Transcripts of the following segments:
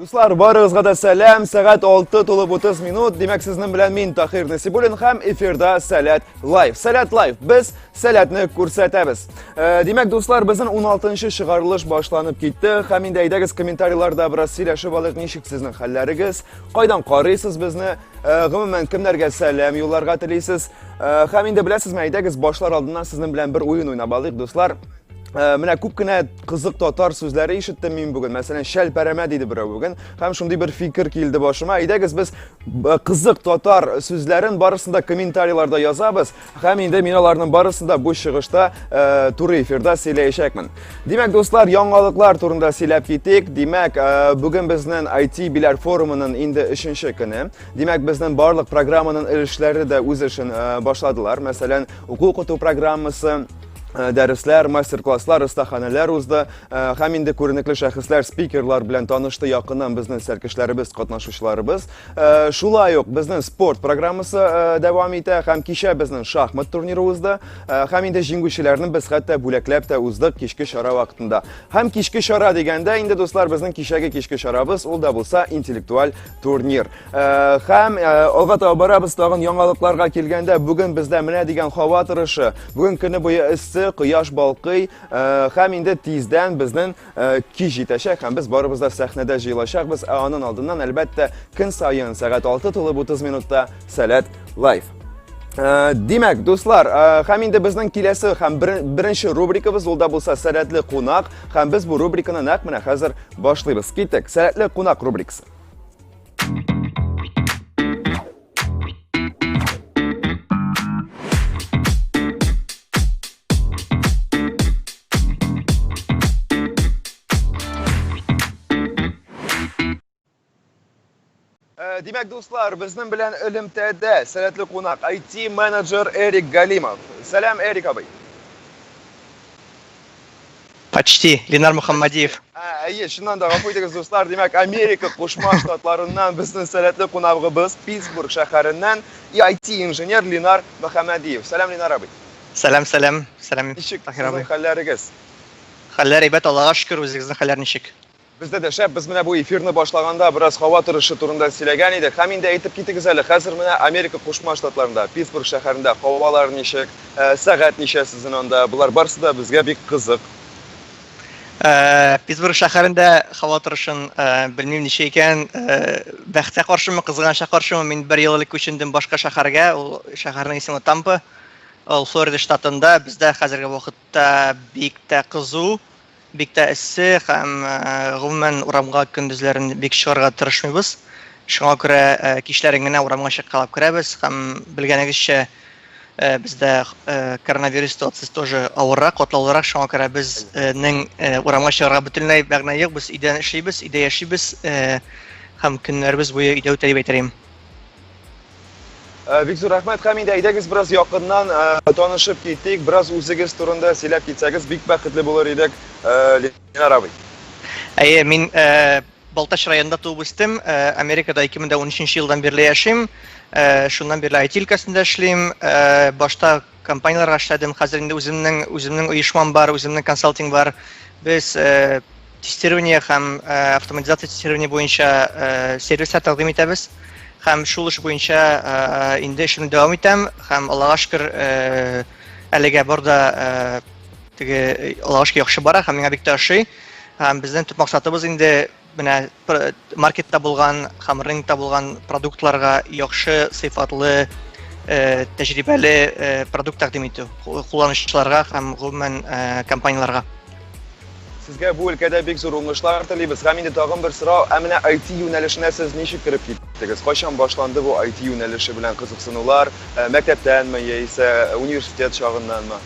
Дуслар, барыгызга да сәлам. Сәгать 6 тулып 30 минут. Димәк, сезнең белән мин Тахир Насибуллин һәм эфирда Сәләт Лайв. Сәләт Лайв. Без сәләтне күрсәтәбез. Э, димәк, дуслар, безнең 16-нчы чыгарылыш башланып китте. Һәм инде әйдәгез комментарийларда бераз сөйләшеп алыйк, ничек сезнең хәлләрегез? Кайдан карыйсыз безне? Э, гомумән кемнәргә сәлам юлларга телисез э, һәм инде беләсезме әйдәгез башлар алдыннан сезнең белән бер уен уйнап алыйк дуслар э, менә күп кенә кызык татар сүзләре ишеттем мин бүген мәсәлән шәлпәрәмә диде берәү бүген һәм шундый бер фикер килде башыма әйдәгез без кызык татар сүзләрен барысын да комментарийларда язабыз Һәм инде мин аларның барысын да бу чыгышта э, туры эфирда сөйләячәкмен. Димәк, дуслар, яңалыклар турында сөйләп китик. Димәк, э, бүген безнең IT биләр форумының инде 3нче көне. Димәк, безнең барлык программаның өлешләре дә үз эшен э, башладылар. Мәсәлән, уку укыту программасы Э, дәресләр, мастер-класслар, остаханәләр узды э, һәм инде күренекле шәхесләр, спикерлар белән танышты якыннан безнең сәркешләребез, катнашучыларыбыз. Э, шулай ук безнең спорт программасы э, дәвам итә һәм кичә безнең шахмат турниры узды э, һәм инде җиңүчеләрне без хәтта бүләкләп тә уздык кичке чара вакытында һәм кичке чара дигәндә инде дуслар безнең кичәге кичке чарабыз ул да булса интеллектуаль турнир һәм алга таба барабыз тагын яңалыкларга килгәндә бүген бездә менә дигән һава торышы бүген көне буе эссе кояш балкый һәм инде тиздән безнең Э, кич җитәчәк һәм без барыбыз да сәхнәдә җыелачакбыз, ә анын алдыннан, әлбәттә, көн саен сәгать 6 тулып 30 минутта Сәләт лайф. Э, димәк, дуслар, э, һәм инде безнең киләсе һәм беренче рубрикабыз ул да булса Сәләтле кунак, һәм без бу рубриканы нәкъ менә хәзер башлыйбыз. Киттек, Сәләтле кунак рубрикасы. Э, Димәк, дуслар, безнең белән элемтәдә сәләтле кунак IT-менеджер Эрик Галимов. Сәлам, Эрик абый. Почти. Ленар Мөхәммәдиев. Ә, әйе, чыннан да гафу итегез, дуслар. Димәк, Америка Кушма Штатларыннан безнең сәләтле кунагыбыз Питтсбург шәһәреннән IT-инженер Ленар Мөхәммәдиев. Сәлам, Ленар абый. Сәлам, сәлам. Сәлам, Ничек Таһир абый. Хәлләрегез? Хәлләр әйбәт, Аллага шөкер, үзегезнең хәлләр ничек? Бездә дә шәп, без менә бу эфирны башлаганда бераз һава торышы турында сөйләгән идек. Һәм инде әйтеп китегез әле, хәзер менә Америка Кушма Штатларында, Питсбург шәһәрендә һавалар ничек, сәгать ничә сезнен анда? Болар барсы да безгә бик кызык. Питсбург шәһәрендә һава торышын белмим ничек икән, бәхеткә каршымы, кызганычка каршымы, мин бер ел элек күчендем башка шәһәргә, ул шәһәрнең исеме Тампа, ул Флорида штатында, бездә хәзерге вакыт Хәтта бик тә кызу, бик тә эссе һәм, гомумән, урамга көндезләрен бик чыгарга тырышмыйбыз. Шуңа күрә кичләрен генә урамга чыккалап керәбез һәм, белгәнегезчә, бездә коронавирус ситуациясе тоже авыррак, катлаулырак, шуңа күрә безнең урамга чыгарга бөтенләй мәгънә юк, без өйдән эшлибез, өйдә яшибез һәм көннәребез буе өйдә үтә дип әйтер идем. Э, бик зур рәхмәт һәм инде әйдәгез бераз якыннан э, танышып китик бераз үзегез турында сөйләп китсәгез бик бәхетле булыр идек э, ленар абый әйе мин балтач районында туып үстем америкада 2013 елдан бирле яшим шуннан бирле айти өлкәсендә эшлим башта Компанияләргә эшләдем, хәзер инде үземнең, үземнең оешмам бар, үземнең консалтинг бар. Без тестирование һәм автоматизация тестирование буенча сервислар тәкъдим итәбез. Һәм шул эш буенча инде эшемне дәвам итәм һәм Аллага шөкер, әлегә бар да теге Аллага шөкер яхшы бара һәм миңа бик тә ошый. Һәм безнең төп максатыбыз инде Менә маркетта булган һәм рынокта булган продуктларга яхшы сыйфатлы э, тәҗрибәле э, продукт тәкъдим итү кулланучыларга һәм гомумән э, компанияләргә. Сезгә бу өлкәдә бик зур уңышлар телибез. Һәм инде тагын бер сорау, ә менә IT юнәлешенә сез ничек кереп киттегез? Кайчан башланды бу IT юнәлеше белән кызыксынулар? Э, мәктәптәнме яисә университет чагыннанмы?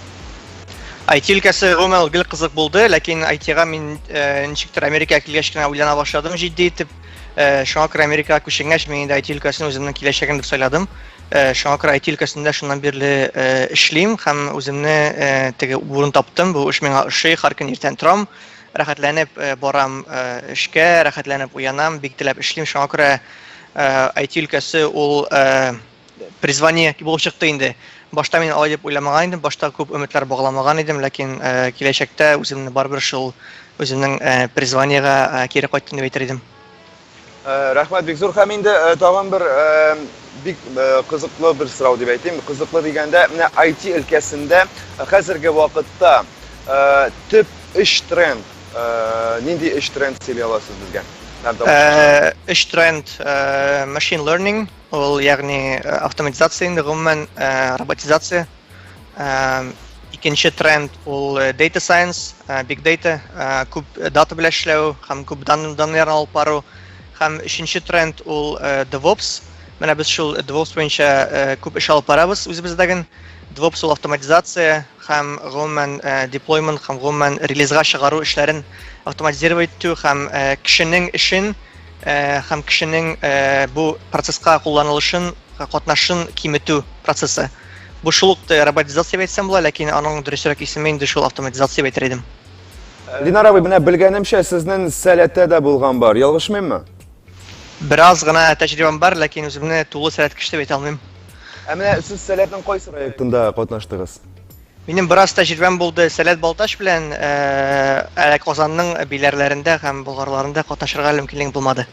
IT өлкәсе гомумән ул гел кызык булды, ләкин IT-га мин э, ничектер Америкага килгәч кенә уйлана башладым җитди итеп. Э, шуңа күрә Америкага күченгәч, мин инде IT өлкәсен үземнең киләчәгем дип сайладым. Э, шуңа күрә IT өлкәсендә шуннан бирле э, эшлим һәм үземне э, теге урын таптым. Бу эш миңа ошый, һәр көн иртән торам, рәхәтләнеп э, барам э, эшкә, рәхәтләнеп уянам, бик теләп эшлим. Шуңа күрә э, IT өлкәсе ул э, призвание булып чыкты инде. Башта мин алай дип уйламаган идем, башта күп өметләр багламаган идем, ләкин э, киләчәктә үземне барыбер шул үземнең э, призваниегә э, кире кайттым дип әйтер идем. Э, рәхмәт бик зур һәм инде э, тагын бер э, бик кызыклы бер сорау дип әйтим. Кызыклы дигәндә, менә IT өлкәсендә хәзерге вакытта төп эш тренд нинди эш тренд сөйли аласыз безгә? Эш тренд machine learning Ул, ягъни, автоматизация инде, гомумән, роботизация. Икенче тренд ул data science, big data, күп дата белән эшләү һәм күп данныйларны алып бару. Һәм өченче тренд ул DevOps. Менә без шул DevOps буенча күп эш алып барабыз үзебездә генә. DevOps ул автоматизация һәм, гомумән, deployment һәм, гомумән, релизга чыгару эшләрен автоматизировать итү һәм кешенең эшен һәм кешенең бу процесска кулланылышын, катнашын киметү процессы. Бу шул ук роботизация дип әйтсәм була, ләкин аның дөресрәк исеме инде шул автоматизация дип әйтер идем. Ленар абый, менә белгәнемчә, сезнең сәләтә дә булган бар, ялгышмыйммы? Бераз гына тәҗрибәм бар, ләкин үземне тулы сәләт кеше дип әйтә алмыйм. Ә менә сез сәләтнең кайсы проектында катнаштыгыз? Минем бераз тәҗрибәм булды Сәләт Балтач белән, әле Казанның биләрләрендә һәм болгарларында катнашырга мөмкинлегем булмады.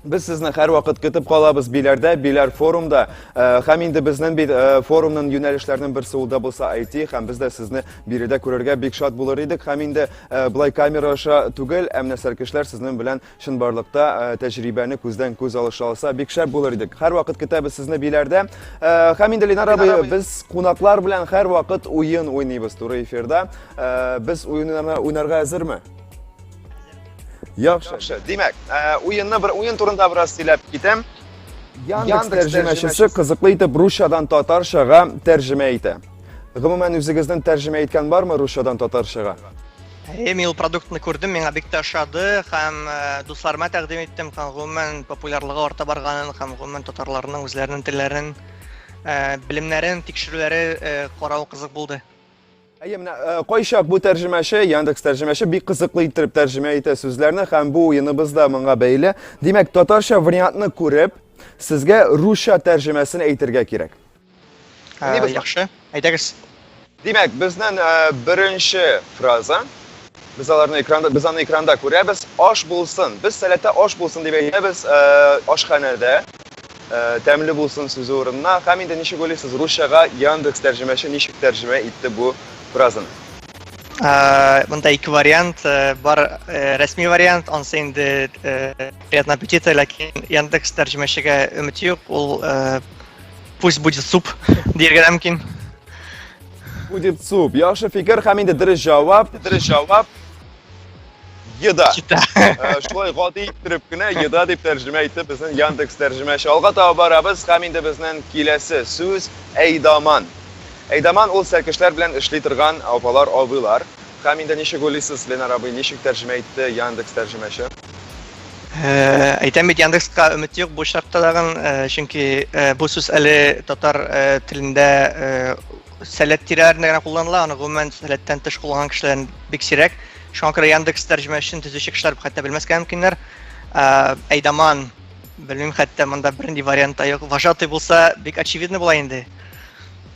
Без сезне һәрвакыт көтеп калабыз Биләрдә, Биләр форумда. Э, һәм инде безнең бит э, форумның юнәлешләренең берсе ул да булса IT, һәм без дә сезне биредә күрергә бик шат булыр идек. Һәм инде э, былай камера аша түгел, ә менә сәркешләр сезнең белән Чынбарлыкта тәҗрибәне күздән күз алыша алса, бик шәп булыр идек. Һәрвакыт көтәбез сезне биләрдә. Һәм инде Ленар абый, без кунаклар белән һәрвакыт уен уйныйбыз туры эфирда. Без уеннарны уйнарга әзерме? Яхшы. Димәк, уенны бер уен турында бераз сөйләп китәм. Яндекс тәрҗемәчесе кызыклы итеп русчадан татарчага тәрҗемә итә. Гомумән, үзегезнең тәрҗемә иткән бармы русчадан татарчага? Әйе, мин ул продуктны күрдем, миңа бик тә ошады һәм э, дусларыма тәкъдим иттем һәм гомумән популярлыгы арта барганын һәм гомумән татарларның үзләренең телләрен э, белемнәрен тикшерүләре э, карау кызык булды. Әйе, менә кайчак бу тәрҗемәче, Яндекс тәрҗемәче бик кызыклы иттереп тәрҗемә итә сүзләрне һәм бу уеныбыз да моңа бәйле. Димәк, татарча вариантны күреп, сезгә русча тәрҗемәсен әйтергә кирәк. Ә, яхшы, әйдәгез. Димәк, безнең ә, беренче фраза без аларны экранда без аны экранда күрәбез аш булсын без сәләтә аш булсын дип әйтәбез э, ашханәдә э, тәмле булсын сүзе урынына һәм инде ничек уйлыйсыз русчага яндекс тәрҗемәче ничек тәрҗемә итте бу фразаны э, мында ике вариант бар рәсми вариант ансы инде приятного аппетита ләкин яндекс тәрҗемәчегә өмет юк ул Пусть будет суп, диергә дә мөмкин. Будет суп. Яхшы фикер һәм инде дөрес җавап, дөрес җавап. Еда. Еда. Э, шулай гади иттереп кенә еда дип тәрҗемә итте безнең Яндекс тәрҗемәче. Алга таба барабыз һәм инде безнең киләсе сүз әйдаман. Әйдаман ул сәркешләр белән эшли торган апалар, абыйлар. Һәм инде ничек уйлыйсыз, Ленар абый, ничек тәрҗемә итте Яндекс тәрҗемәче? Әйтәм бит Яндекска өмет юк бу очракта тагын, чөнки бу сүз әле татар телендә сәләт тирәләрендә генә кулланыла, аны гомумән сәләттән тыш кулланган кешеләр бик сирәк. Шуңа күрә Яндекс тәрҗемәчен төзүче кешеләр хәтта белмәскә мөмкиннәр. Әйдаман, белмим, хәтта монда бернинди вариант та юк. Вожатый булса, бик очевидно була инде.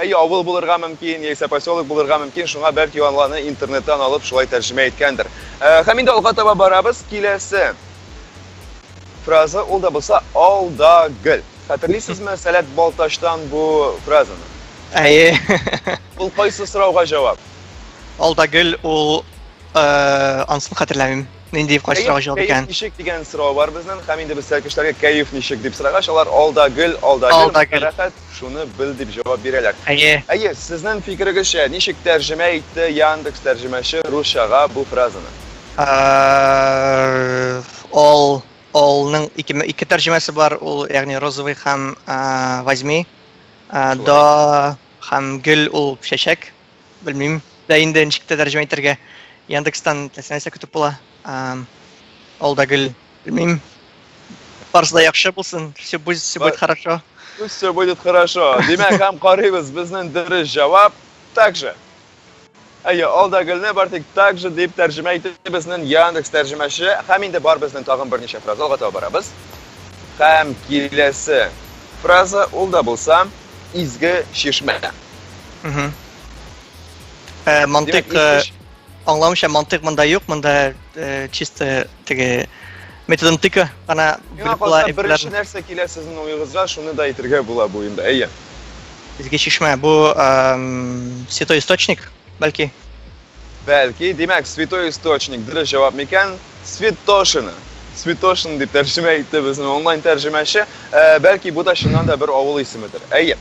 Әйе, авыл булырга мөмкин, яисә поселок булырга мөмкин, шуңа бәлки аны аны интернеттан алып шулай тәрҗемә иткәндер. Э, һәм инде алга таба барабыз, киләсе фраза ул да булса алда гел. Хәтерлисезме Сәләт Балтачтан бу фразаны? Әйе. Ул кайсы сорауга җавап? Алда гел ул э, ансын хәтерләмим. Нинди кайсы сорауга җавап икән? Ничек дигән сорау бар безнең. Һәм инде без сәркешләргә кәеф ничек дип сорагач, алар алда гөл, алда гөл, рәхәт, шуны бел дип җавап бирәләр. Әйе. Әйе, сезнең фикерегезчә, ничек тәрҗемә итте Яндекс тәрҗемәче русчага бу фразаны? Ол, олның ике, ике тәрҗемәсе бар, ул, ягъни розовый һәм возьми. До һәм гөл ул чәчәк. Белмим дә инде ничек тә тәрҗемә итәргә. Яндекстан теләсә нәрсә көтеп була. Ул да гел белмим. Барысы да яхшы булсын. Все будет, все будет хорошо. Все будет хорошо. Димәк, һәм карыйбыз безнең дөрес җавап также. Әйе, алда гөлне бар тик также дип тәрҗемә итте безнең Яндекс тәрҗемәче. Һәм инде бар безнең тагын берничә фраза алга таба барабыз. Һәм киләсе фраза ул да булса, Изге чишмә. Угу. Ә, мантык, Димәк, аңламыйча мантык монда юк, монда э, чисто теге методонтика гана белеп була. Беренче нәрсә килә сезнең уегызга, шуны да әйтергә була бу инде. Әйе. Изге чишмә бу эм, святой источник, бәлки. Бәлки, димәк, святой источник дөрес җавап микән? Святошино. Святошино дип тәрҗемә итте безнең онлайн тәрҗемәче. Ә, бәлки, бу да чыннан да бер авыл исемедер. Әйе.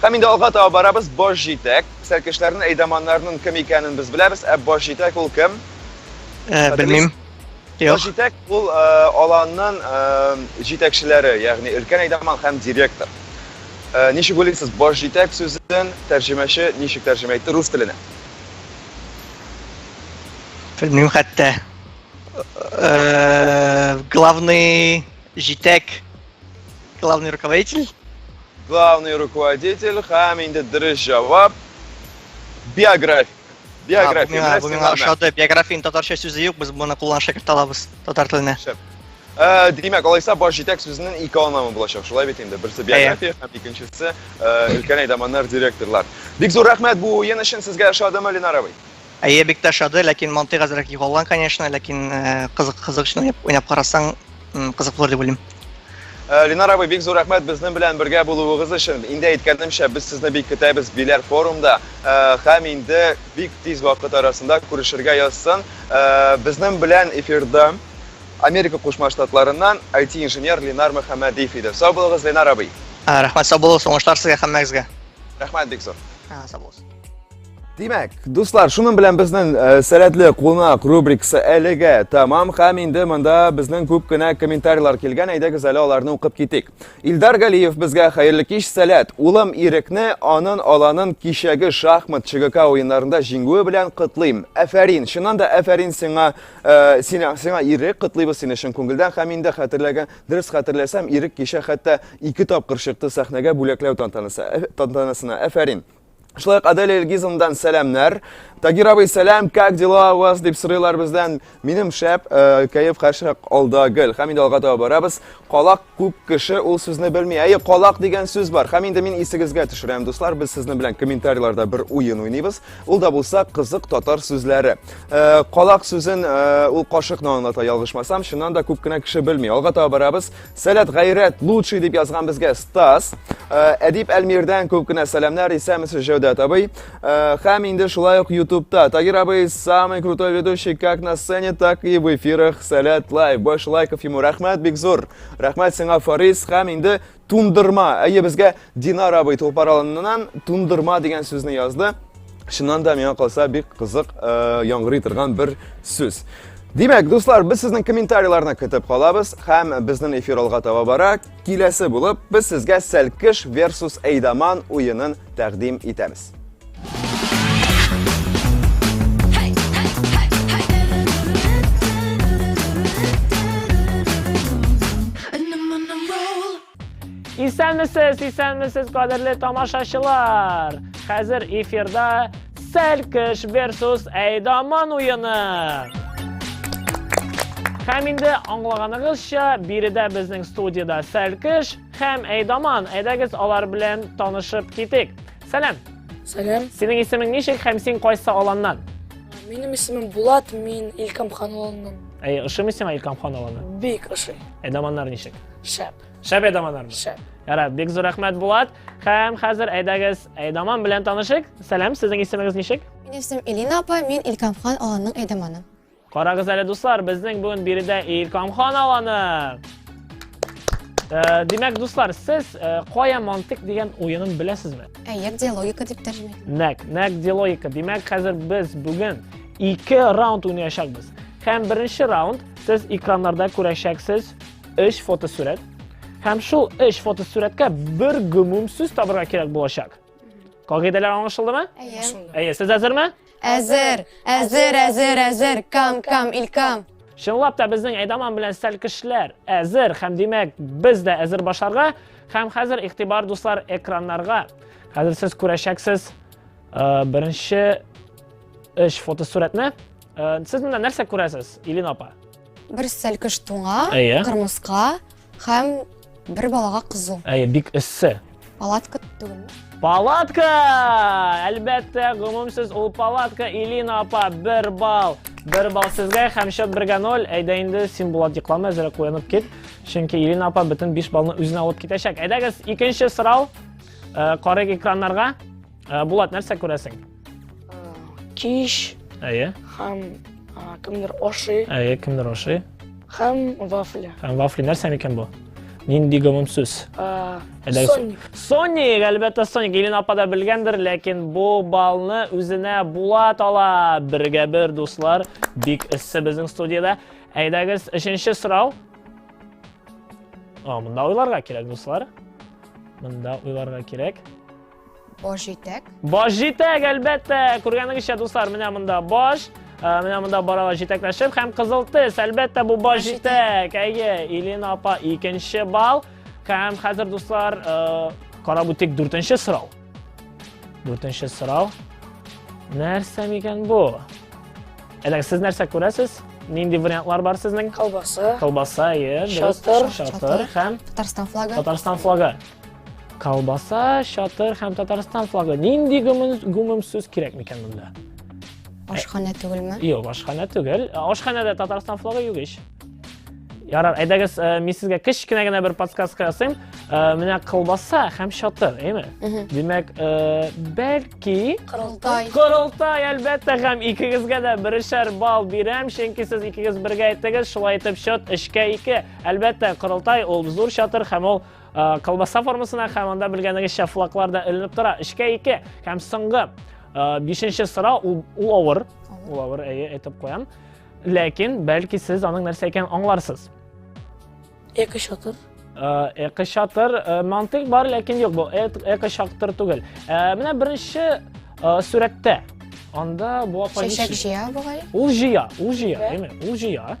Һәм инде алга таба барабыз. Баш җитәк. Сәлкешләрнең, әйдаманнарның кем икәнен без беләбез. Ә баш җитәк ул кем? Ә, белмим. Баш җитәк ул э, аланның э, җитәкчеләре, ягъни өлкән әйдаман һәм директор. Э, ничек уйлыйсыз, баш җитәк сүзен тәрҗемәче ничек тәрҗемә итте рус теленә? Белмим хәтта. Э, главный җитәк, главный руководитель. Главный руководитель һәм инде дөрес җавап биография. Биография. Бу миңа ошады. Биографияның татарча сүзе юк, без моны кулланып шәкерт алабыз татар теленә. Э, димәк алайса баш җитәк сүзенең ике анамы булачак шулай бит инде берсе биография һәм икенчесе э, өлкән әйдаманнар директорлар бик зур рәхмәт бу уен өчен сезгә ошадымы ленар абый әйе бик тә ошады ләкин мантыйк әзрәк югалган конечно ләкин э, кызык кызык өчен уйнап карасаң кызык булыр дип уйлыйм Э, Ленар абый, бик зур рәхмәт безнең белән бергә булуыгыз өчен. Инде әйткәнемчә, без сезне бик көтәбез Биләр форумда э, һәм инде бик тиз вакыт арасында күрешергә язсын. Э, безнең белән эфирда Америка Кушма Штатларыннан IT-инженер Ленар Мөхәммәдиев иде. Сау булыгыз, Ленар абый. Ә, Рәхмәт, сау булыгыз, уңышлар сезгә һәммәгезгә. Рәхмәт бик зур. Ә, Сау булыгыз. Димәк, дуслар, шуның белән безнең э, сәләтле кунак рубрикасы әлегә тәмам һәм инде монда безнең күп кенә комментарийлар килгән, әйдәгез әле аларны укып китик. Илдар Галиев безгә хәерле кич, сәләт. Улым Ирекне анын аланын кичәге шахмат ЧГК уеннарында җиңүе белән котлыйм. Әфәрин, чыннан да әфәрин сиңа, Э, сиңа сиңа ирек котлыйбыз сине чын күңелдән һәм инде хәтерләгән дөрес хәтерләсәм ирек кичә хәтта ике тапкыр чыкты сәхнәгә бүләкләү тантанасы э, тантанасына әфәрин Шулай ук Аделя Илгизовнадан сәламнәр. Тагир абый, сәлам, как дела у вас? дип сорыйлар бездән. Минем шәп, э, кәеф хәшәк алда гел. Һәм инде алга таба барабыз. Калак Күп кеше ул сүзне белми. Әйе, калак дигән сүз бар. Һәм инде мин исегезгә төшерәм, дуслар, без сезнең белән комментарийларда бер уен уйныйбыз. Ул да булса кызык татар сүзләре. Э, калак сүзен э, ул кашыкны аңлата, ялгышмасам, чыннан да күп кенә кеше белми. Алга таба барабыз. Сәләт гайрәт лучший дип язган безгә Стас. Э, Әдип Әлмирдән күп кенә сәламнәр, исәмесез Җәүдәт абый. Э, һәм инде шулай ук ютубта тагир абый самый крутой ведущий как на сцене так и в эфирах сәләт лайв больше лайков ему рәхмәт бик зур рәхмәт сиңа фарис һәм инде тундырма әйе безгә динар абый тупар алыннан тундырма дигән сүзне язды чыннан да миңа калса бик кызык э, яңгырый торган бер сүз Димәк, дуслар, без сезнең комментарийларны көтеп калабыз һәм безнең эфир алга таба бара. Киләсе булып, без сезгә Сәлкеш versus Әйдаман уенын тәкъдим итәбез. Исәнмесез, исәнмесез, кадерле тамашачылар! Хәзер эфирда Сәлкеш версус Әйдаман уены. Һәм инде аңлаганыгызча, биредә безнең студияда Сәлкеш һәм Әйдаман. Әйдәгез алар белән танышып китик. Сәлам. Сәлам. Синең исемең ничек һәм син кайсы аланнан? Минем исемем Булат, мин Илкам хан аланнан. Әй, ошымый сиңа Илкам хан аланы? Бик ошый. Әйдаманнар ничек? Шәп. Шәп әйдаманнармы? Шәп. Ярар, бик зур рәхмәт, Булат. Хәм хәзер әйдәгез, Әйдаман белән танышык. Сәлам, сезнең исемегез ничек? Минем исемем Элина апа, мин Илкамхан аланның әйдаманы. Карагыз әле, дуслар, безнең бүген биредә Илкамхан аланы. Э, димәк, дуслар, сез э, кая мантык дигән уенын беләсезме? Әйе, диалогика дип тәрҗемә итәм. Нәк, нәк диалогика. Димәк, хәзер без бүген ике раунд уйнаячакбыз. Һәм беренче раунд сез экраннарда күрәчәксез 3 фотосурәт. Һәм шул 3 фотосурәткә бер гомум сүз табырга кирәк булачак. Кагыйдәләр аңлашылдымы? Әйе. Әйе, сез әзерме? Әзер, әзер, әзер, әзер, кам, кам, илкам. Чынлап та безнең Әйдаман белән сәлкешләр әзер һәм димәк без дә әзер башарга һәм хәзер игътибар дуслар экраннарга. Хәзер сез күрәчәксез э, беренче эш фотосурәтне. Э, сез монда нәрсә күрәсез, Илин апа? Бер сәлкеш туңа, Әйе. кырмыска һәм бер балага кызу. Әйе, бик эссе. Палатка түгелме? Палатка! Әлбәттә, гомумсез ул палатка Илина апа бер балл. Бер балл сезгә һәм счет бергә ноль. Әйдә инде син Булат йоклама, әзрәк куянып кит. Чөнки Илина апа бөтен 5 баллны үзенә алып китәчәк. Әйдәгез, икенче сорау. Э, Карыйк экраннарга. Э, Булат, нәрсә күрәсең? Киш. Әйе. Һәм кемдер ашый. Әйе, кемдер ашый. Һәм вафли. Һәм вафли нәрсә микән бу? Нинди гомум сүз? Соник. Соник, әлбәттә Соник. Илен апа да белгәндер, ләкин бу балны үзенә Булат ала. Бергә бер, дуслар. Бик эссе безнең студияда. Әйдәгез, өченче сорау. О, мында уйларга кирәк, дуслар. Мында уйларга кирәк. Баш җитәк. Баш җитәк, әлбәттә. Күргәнегезчә, дуслар, менә монда баш, э, менә монда баралар җитәкләшеп һәм кызыл тез. Әлбәттә, бу баш җитәк. Әйе, Илина апа икенче бал. Һәм хәзер, дуслар, э, карап үтик дүртенче сорау. Дүртенче сорау. Нәрсә микән бу? Әле сез нәрсә күрәсез? Нинди вариантлар бар сезнең? Колбаса. Колбаса, әйе. Шатыр. Шатыр һәм Татарстан флагы. Татарстан флагы. Колбаса, чатыр һәм Татарстан флагы. Нинди гүмем сүз кирәк микән монда? Ашханә түгелме? Юк, ашханә түгел. Ашханәдә Татарстан флагы юк ич. Ярар, әйдәгез, э, мин сезгә кечкенә генә бер подсказка ясыйм. Э, менә колбаса һәм чатыр, әйме? Димәк, э, бәлки Корылтай. Корылтай, әлбәттә, һәм икегезгә дә берешәр бал бирәм, чөнки сез икегез бергә әйттегез, шулай итеп счет 3 2. Әлбәттә, Корылтай ул зур чатыр һәм ул Колбаса формасына һәм анда белгәнегезчә флаглар да эленеп тора. Эшкә ике һәм соңгы бишенче сорау ул авыр. Ул авыр, әйе, әйтеп куям. Ләкин бәлки сез аның нәрсә икәнен аңларсыз. Эко шатыр. Эко шатыр мантык бар, ләкин юк, бу эко шатыр түгел. Менә беренче сүрәттә анда бу апа Чәчәк җыя бугай. Ул җыя, ул җыя, әйме, ул җыя.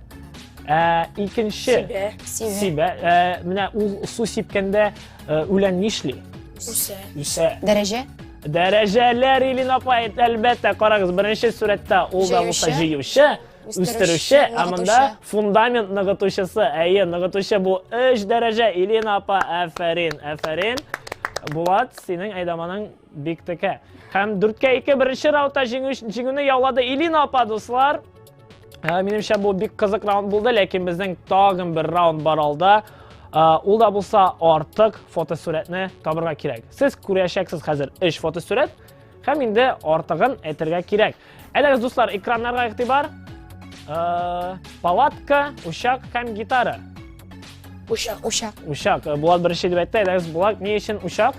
Ә, икенче. Сибә. Сибә. Сибә. Ә, менә ул су сипкәндә ә, үлән нишли? Үсә. Үсә. Дәрәҗә. Дәрәҗәләр Илин апа, әлбәттә, карагыз, беренче сурәттә ул да булса җыючы, үстерүче, ә монда фундамент ныгытучысы. Әйе, ныгытучы бу 3 дәрәҗә. Илин апа, әфәрин, әфәрин. Булат, синең әйдаманың бик текә. Һәм дүрткә ике беренче раутта җиңүне яулады Илин апа, дуслар. Ә, минемчә бу бик кызык раунд булды, ләкин безнең тагын бер раунд бар алда. Ул да булса артык фотосурәтне табырга кирәк. Сез күрәчәксез хәзер 3 фотосурәт һәм инде артыгын әйтергә кирәк. Әлегез дуслар, экраннарга игътибар. Ә, палатка, учак һәм гитара. Учак, учак. Учак. Булат беренче дип әйтте, әлегез Булат ни өчен учак?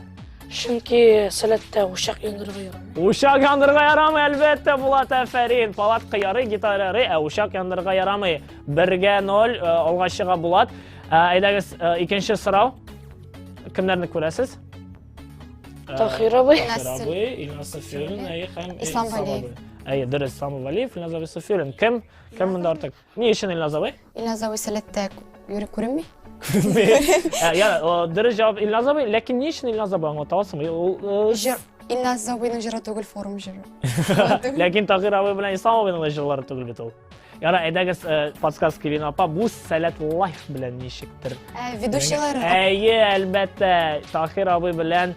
Чөнки сәләттә учак яндырырга ярамый. Учак яндырырга ярамый, әлбәттә, Булат, әфәрин. Палатка ярый, гитара ярый, ә учак яндырырга ярамый. Бергә ноль, э, алга чыга Булат. Э, әйдәгез, э, икенче сорау. Кемнәрне күрәсез? Тахир абый. Тахир абый, Илназ Сафиуллин, әйе, һәм Ислам Галиев. Әйе, дөрес, Ислам Галиев, Илназ Сафиуллин. Кем? Кем монда артык? Ни өчен Илназовый? Илназовый сәләттә юри күренми. Ә, я, о, дөрес җавап Илназовый, ләкин ни өчен Илназовый аңлата аласыңмы? Ул, э, Җыр. Илназовыйның җыры түгел, форум җыры. Ләкин Тагир абый белән Ислам абыйның да җырлары түгел бит ул. Яра, әйдәгез, э, подсказка Кевин апа, бу сәләт лайф белән ничектер. Ә, Ведущийлары. Әйе, әлбәттә, Тахир абый белән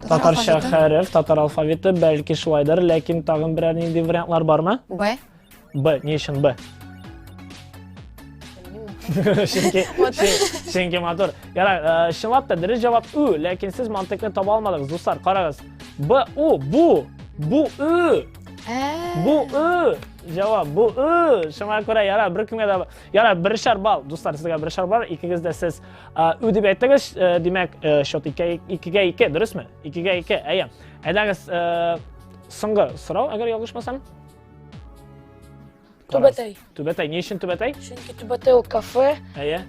Татарча хәреф, татар алфавиты, бәлки шулайдыр, ләкин тагын берәр нинди вариантлар бармы? Б. Б, ни өчен Б? Чөнки чөнки матур. Ярар, э, чынлап та дөрес җавап Ү, ләкин сез мантыкны таба алмадыгыз, дуслар, карагыз. Б, У, бу, бу Ү. Ә. Бу Ү. Җавап бу Ү. Шуңа күрә ярар, беркемгә дә Яра, берешәр балл, дуслар, сезгә берешәр балл, икегез дә сез ү дип әйттегез, димәк, счет икегә ике, дөресме? Икегә ике, әйе. Әйдәгез, соңгы сорау, әгәр ялгышмасам. Түбәтәй. Түбәтәй, ни өчен Түбәтәй? Чөнки Түбәтәй ул кафе. Әйе.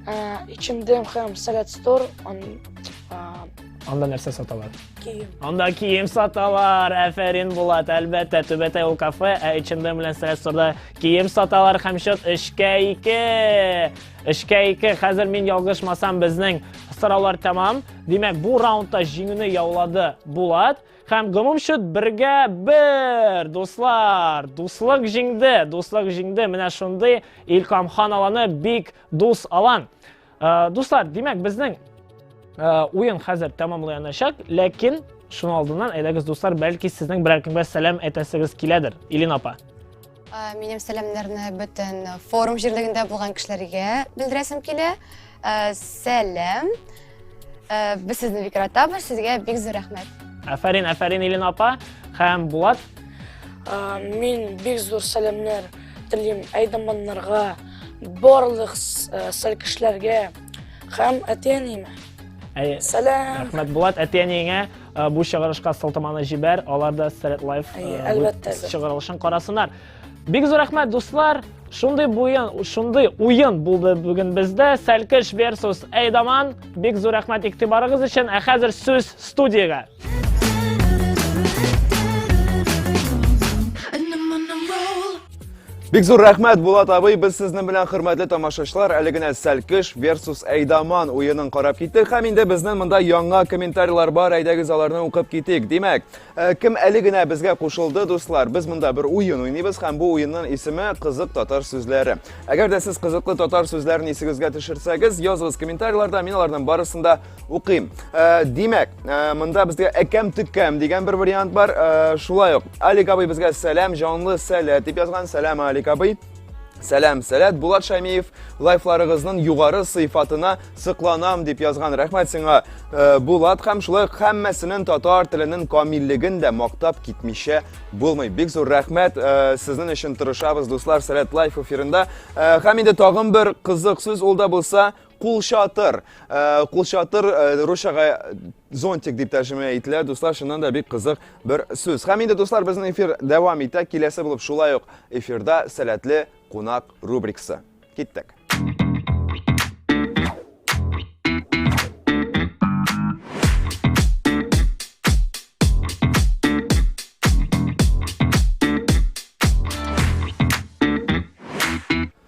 Ичемдем һәм сәләт стор, анда нәрсә саталар? Кием. Анда кием саталар. Әфәрин Булат, әлбәттә, Түбәтәй ул кафе, ә H&M белән Сресторда кием саталар һәм счет 3-кә 2. 3-кә 2. Хәзер мин ялгышмасам безнең сораулар тәмам. Димәк, бу раундта җиңүне яулады Булат һәм гомум счет 1-гә 1. Дуслар, дуслык җиңде, дуслык җиңде. Менә шундый Илкам хан аланы бик дус алан. Ә, дуслар, димәк, безнең ә, уен хәзер тәмамланачак, ләкин шуның алдыннан әйдәгез, дуслар, бәлки сезнең берәр кемгә сәлам әйтәсегез киләдер, Илин апа. Ә, минем сәламнәрне бөтен форум җирлегендә булган кешеләргә белдерәсем килә. Ә, сәлам. Ә, без сезне бик яратабыз, сезгә бик зур рәхмәт. Афәрин, афәрин, Илин апа һәм Булат. Ә, мин бик зур сәламнәр телим әйдаманнарга, барлык сәл кешеләргә һәм әти-әниемә. Сәлам. Рәхмәт Булат, әти-әниеңә бу чыгарышка сылтаманы җибәр, алар да Сәрәт Лайф чыгарылышын карасыннар. Бик зур рәхмәт, дуслар. Шундый буен, шундый уен булды бүген бездә. Сәлкеш versus Эйдаман. Бик зур рәхмәт игътибарыгыз өчен. Ә хәзер сүз студиягә. Бик зур рәхмәт, Булат абый, без сезнең белән хөрмәтле тамашачылар, әле генә Сәлкеш versus Әйдаман уенын карап киттек. Һәм инде безнең монда яңа комментарийлар бар, әйдәгез аларны укып китик. Димәк, э, кем әле генә безгә кушылды, дуслар? Без монда бер уен уйныйбыз һәм бу уенның исеме Кызык татар сүзләре. Әгәр дә сез кызыклы татар сүзләрен исегезгә төшерсәгез, языгыз комментарийларда, мин аларның барысын да укыйм э, димәк э, монда безгә әкәм төккәм дигән бер вариант бар э, шулай ук алик абый безгә сәлам җанлы сәләт дип язган сәлам алик абый Сәлам, сәләт, Булат Шәмиев, лайфларыгызның югары сыйфатына сыкланам дип язган рәхмәт сиңа. Э, Булат һәм шулай һәммәсенең татар теленең камиллеген дә мактап китмичә булмый. Бик зур рәхмәт э, сезнең өчен тырышабыз, дуслар, сәләт лайф эфирында. Э, һәм инде тагын бер кызык сүз ул да булса, Кулчатыр. Э, кулчатыр э, русчага зонтик дип тәрҗемә ителә. Дуслар, шуннан да бик кызык бер сүз. Һәм инде дуслар, безнең эфир дәвам итә. Киләсе булып шулай ук эфирда сәләтле кунак рубрикасы. Киттек.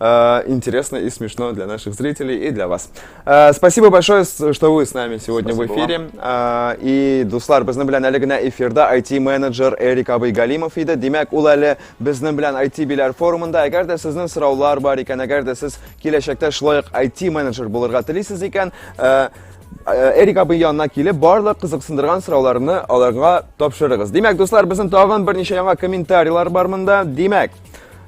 Э, интересно и смешно для наших зрителей и для вас. Э, спасибо большое, что вы с нами сегодня Спасибо в эфире. Вам. Э, и Дуслар, безнең белән әле генә эфирда IT-менеджер Эрик Абый Галимов иде. Димәк, ул әле безнең белән IT-биләр форумында. Әгәр дә сезнең сораулар бар икән, әгәр дә сез киләчәктә шулай ук IT-менеджер булырга телисез икән, Эрик абый янына килеп, барлык кызыксындырган сорауларны аларга тапшырыгыз. Димәк, дуслар, безнең тагын берничә яңа комментарийлар бар монда. Димәк,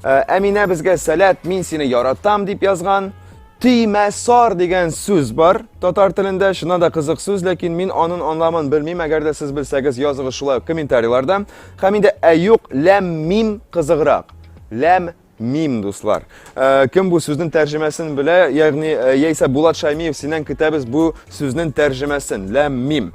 Э, Әминә безгә сәләт, мин сине яратам дип язган. Тимә сар дигән сүз бар татар телендә, шына да кызык сүз, ләкин мин анын анламын белмим, әгәр дә сез белсәгез, языгыз шулай ук комментарийларда. Хәм инде әюк ләм мим кызыграк. Ләм мим, дуслар. Э, кем бу сүзнең тәрҗемәсен белә, ягъни э, яисә Булат Шаймиев синен көтәбез бу сүзнең тәрҗемәсен. Ләм мим.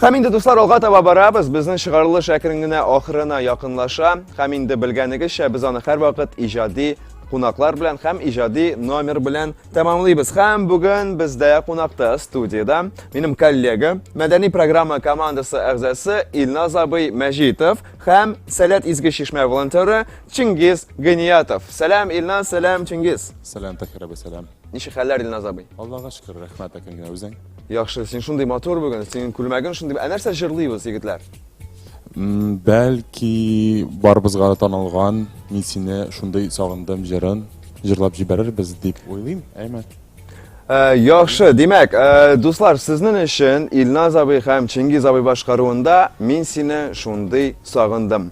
Һәм инде дуслар алга таба барабыз, безнең чыгарылыш әкрен генә ахырына якынлаша. Һәм инде белгәнегезчә, без аны һәрвакыт иҗади кунаклар белән һәм иҗади номер белән тәмамлыйбыз. Һәм бүген бездә кунакта студиядә минем коллега, мәдәни программа командасы әгъзасы Илназ абый Мәҗитов һәм Сәләт изге чишмә волонтеры Чингиз Гыниятов. Сәлам Илназ, сәлам Чингиз. Сәлам Тахир абый, сәлам. Ничек хәлләр, Илназ абый? Аллага шөкер, рәхмәт, әкренләп үзең. Яхшы, син шундый матур бүген, синең күлмәгең шундый. Ә нәрсә җырлыйбыз, егетләр? Бәлки барыбызга да танылган Мин сине шундый сагындым җырын җырлап җибәрербез дип уйлыйм, әйме? Э, яхшы, димәк, э, дуслар, сезнең өчен Илназ абый һәм Чингиз абый башкаруында Мин сине шундый сагындым.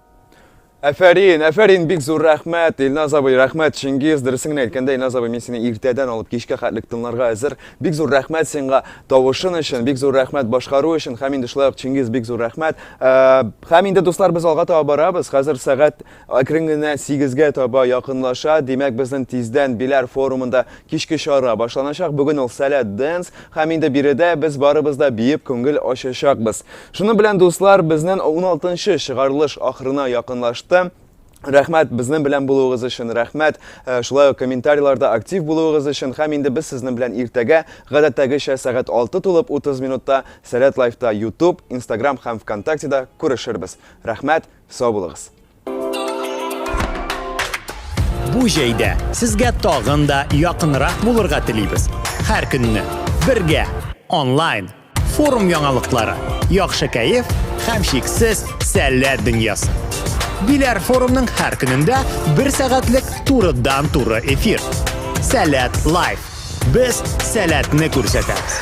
Әфәрин, әфәрин, бик зур рәхмәт, Илназ абый, рәхмәт, Чингиз, дөресен генә әйткәндә, Илназ абый, мин сине иртәдән алып кичкә хәтлек тыңларга әзер. Бик зур рәхмәт сиңа тавышын өчен, бик зур рәхмәт башкару өчен, һәм инде шулай ук Чингиз, бик зур рәхмәт. Э, һәм инде дуслар, без алга таба барабыз. Хәзер сәгать әкрен генә 8-гә таба якынлаша. Димәк, безнең тиздән Биләр форумында Кичке чара башланачак, бүген ул Сәләт Dance, һәм инде биредә без барыбыз да биеп күңел ачачакбыз. Шуның белән, дуслар, безнен уналтынчы чыгарылыш ахырына якынлашты. Рәхмәт безнен белән булуыгыз өчен, рәхмәт шулай ук комментарийларда актив булуыгыз өчен, һәм инде без сезнен белән иртәгә, гадәттәгечә, сәгать 6 тулып 30 минутта Сәләт Лайфта, Ютуб, Инстаграм һәм Вконтактеда күрешербез. Рәхмәт, сау булыгыз! Бу җәйдә сезгә тагын да якынрак булырга телибез. Һәр көнне бергә онлайн форум яңалыклары, яхшы кәеф һәм шиксез сәләт дөньясы. Биләр форумның һәр көнендә бер сәгатьлек турыдан туры эфир. Сәләт лайф. Без сәләтне күрсәтәбез.